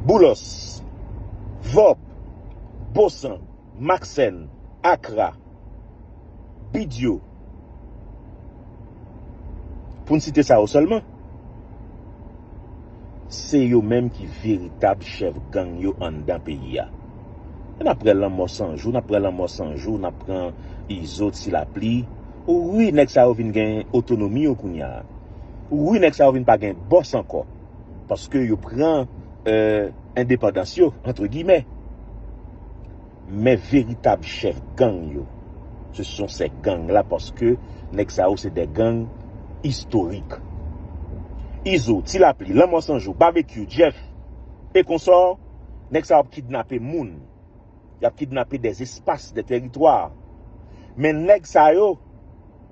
Boulos. Vòp. Bon san. Maksen, Akra, Bidyo, pou n site sa yo sèlman, se yo menm ki veritab chèf gang yo anndan peyi a. E n ap prè lanmò san jou, n ap prè lanmò san jou, n ap pran Izo, Ti Lapli. Wi nèg sa yo vin gen otonomi yo kounya. Wi nèg sa yo vin pa gen bòs ankò. Paske yo pran endepandans yo antre gimè. Men veritab chèf gang yo. Se son sè gang la paske nèg sa yo se dè gang istorik. Izo, Ti Lapli, Lanmò San Jou, Babekyou, Jeff e konsò, nèg sa yo ap kidnape moun. Y ap kidnape dè espas, dè teritwa. Men nèg sa yo.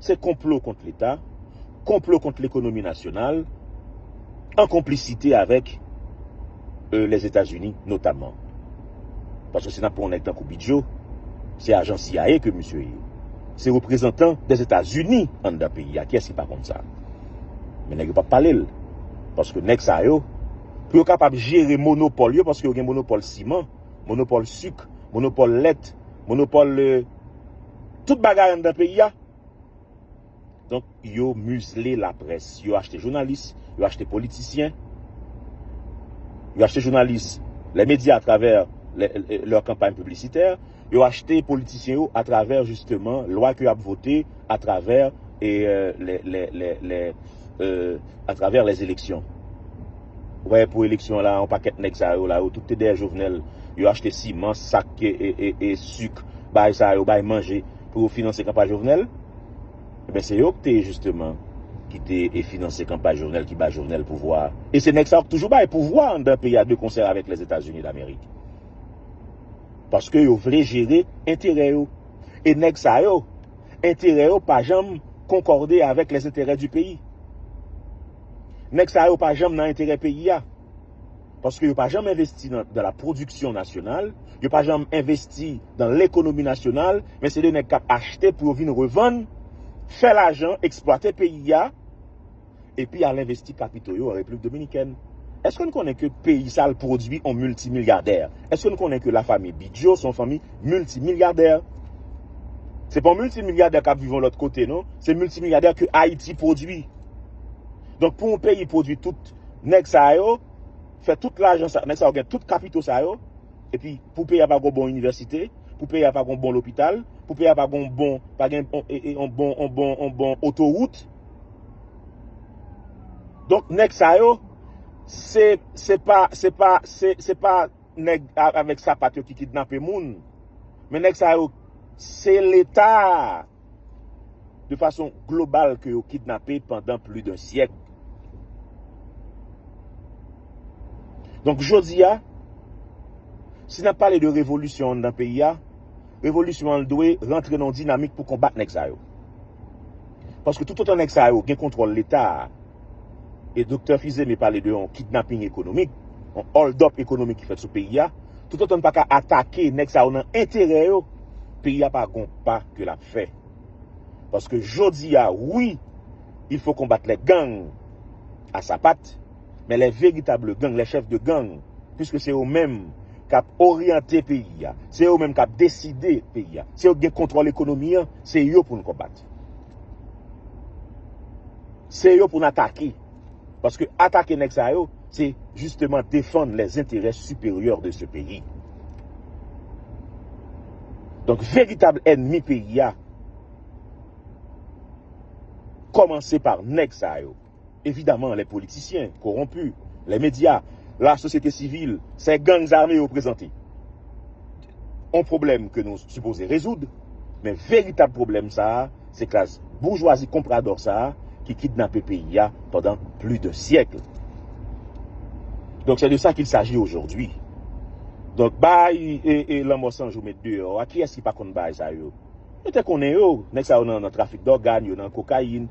Se konplo kont leta, konplo kont lekonomi nasyonal, an konplisite avèk Lèzetazini notamman. Paske si n ap pran yon nèg tankou Bidjo, se ajan CIA ke misye ye. Se reprezantan Lèzetazini anndan peyi a, kiyès ki pa konn sa? Men nèg yo pa pale l, paske nèg sa yo, pou yo kapab jere monopòl yo, paske yo gen monopòl siman, monopòl sik, monopòl lèt, monopòl. Tout bagay anndan peyi a. Donk yo mizle laprès. Yo achte jounalis, yo achte politisyen, yo achte jounalis lè medya atravè lè kanpay piblisitè, yo achte politisyen yo atravè jisteman lwa ke yo ap vote atravè lè a travè les eleksyon ou pa wè pou eleksyon la yon pakèt nèg sa yo la yo tout te dèyè jovenel yo achte siman sak e suk bay sa yo bay manje pou yo finanse kanpay jovenel ebyen se yo ki te jisteman ki te e finanse kanpay jovenel ki bay jovenel pouvwa a e se nèg sa yo ki toujou bay pouvwa anndan peyi a de konsè avèk les etazini damerik paske yo vle jere enterè yo. E nèg sa yo, enterè yo pa janm konkòde avèk les intérêts du pays. Nèg sa yo pa janm nan enterè peyi a. Paske yo pa janm envesti nan la production nationale, yo pa janm envesti nan l'économie nationale, men se de nèg kap achte pou yo vin revann, fè lajan, eksplwate peyi a, epi al envesti kapito yo an Repiblik Dominikèn. Eske nou konnen ke peyi sa al pwodwi yon miltimilyadè? Eske nou konnen ke la fami Bidjo se yon fanmi miltimilyadè? Se pa yon miltimilyadè kap viv yon lòt kote non, se miltimilyadè ke Ayiti pwodwi. Donk pou yon peyi pwodwi tout nèg sa yo, fè tout lajan sa, nèg sa yo gen tout kapito sa yo, epi pou peyi a pa gen yon bon inivèsite, pou peyi a pa gen yon bon lopital, pou peyi a pa gen yon bon, pa gen yon bon, yon bon, yon bon otowout, Donk nèg sa yo, se, se pa, se pa, se, se pa nèg avèk sapat yo ki kidnape moun, men nèg sa yo, se leta a, de fason global ke yo kidnape pandan pli de syèk. Donk jodi a, si n ap pale de revolisyon anndan peyi a, revolisyon an dwe rantre nan yon dinamik pou konbat nèg sa yo. Paske toutotan nèg sa yo gen kontwòl leta a, e doktè Fils-Aimé pale de yon kidnaping ekonomik, yon hold up ekonomik ki fèt sou peyi a, toutotan n pa ka atake nèg sa yo nan enterè yo, peyi a pa gon pa ke l ap fè. Paske jodi a, wi, il faut combattre les gangs à sapate, Men les véritables gangs, les chefs de gang, puisque se yo menm kap oryante peyi a, se yo menm kap deside peyi a, se yo ki gen kontwòl ekonomi an, se yo pou nou konbat. Se yo pou nou atake. Paske atake nèg sa yo, se justement defand les intérêts supérieurs de ce pays. Donk veritab ènmi peyi a, kòmanse par nèg sa yo. Evidaman lè politisyen, koronpi, lè medya, la sosyete sivil, sè gang zame yo prezante on pwoblèm ke nou sipoze rezoud, men veritab pwoblèm sa a se klas boujwazi konpradò sa a ki kidnape peyi a pandan pli d'un siècle. Donk sè de sa kil saji ojòdwi. Donk baay e lanmò san jou met deyò a kiyès ki pa konn baay sa yo? Yo te konnen yo, nèg sa yo nan trafik dògan, yo nan kokayin,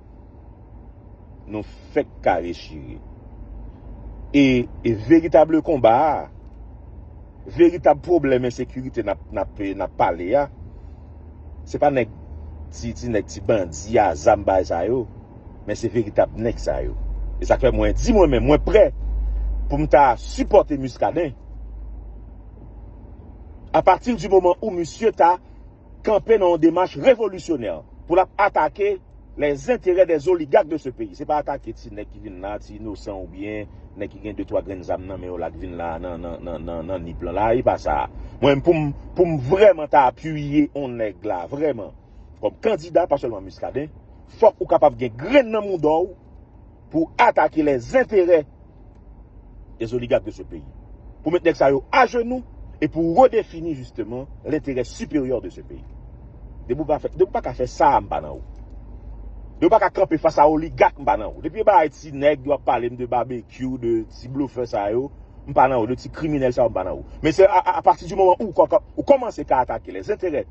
Nou fèk kare chire. E veritable konba a, veritable pwoblèm ensekirite nap pale a, se pa nèk ti ti nèk ti bandi a zam bay sa yo, men se veritable nèk sa yo. E sak fè mwen di mwen menm mwen prè poum ta sipòte Muscadin. A pati di moman ou misye ta. kanpe nan yon demach revolisyonè pou l ap atake lè zenterè dè zoligak de se peyi. Se pa atake ti nèg ki vin la a, ti inosan oubyen nèg ki gen de twa grenn zam nan men yo la k vin la a nan Nip lan la a. E pa sa a. Mwen menm pou m pou m vrèman ta apiye on nèg la vrèman kòm kandida pa sèlman Miskaden, fòk ou kapab gen grenn nan mouda w, Pou atake lè zenterè des oligarques de ce pays. Pou met nèg sa yo a jenou e pou redefini jisteman lenterè siperyè de ce pays. Depi ou pa fè, depi ou pa ka fè sa a m pa nan ou. Depi ou pa ka kanpe fas a oligak m pa nan ou. Depi e bagay ti nèg yo ap pale m de babekyou, de ti blofè sa yo m pa nan ou, de ti kriminèl sa yo m pa nan ou. Men se a pati di moman ou kòmanse ka atake lè zenterè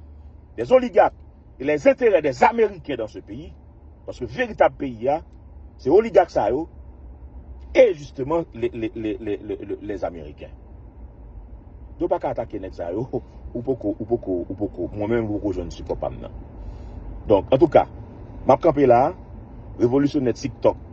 des oligarques. et les intérêts des américains dans ce pays paske veritab peyi ya se oligak sa yo et justement les américains yo pa ka atake nèg sa yo ou poko ou poko ou poko mwen menm ou poko jwenn sipò pam nan donk antouka map kanpe la revolisyonè tiktok.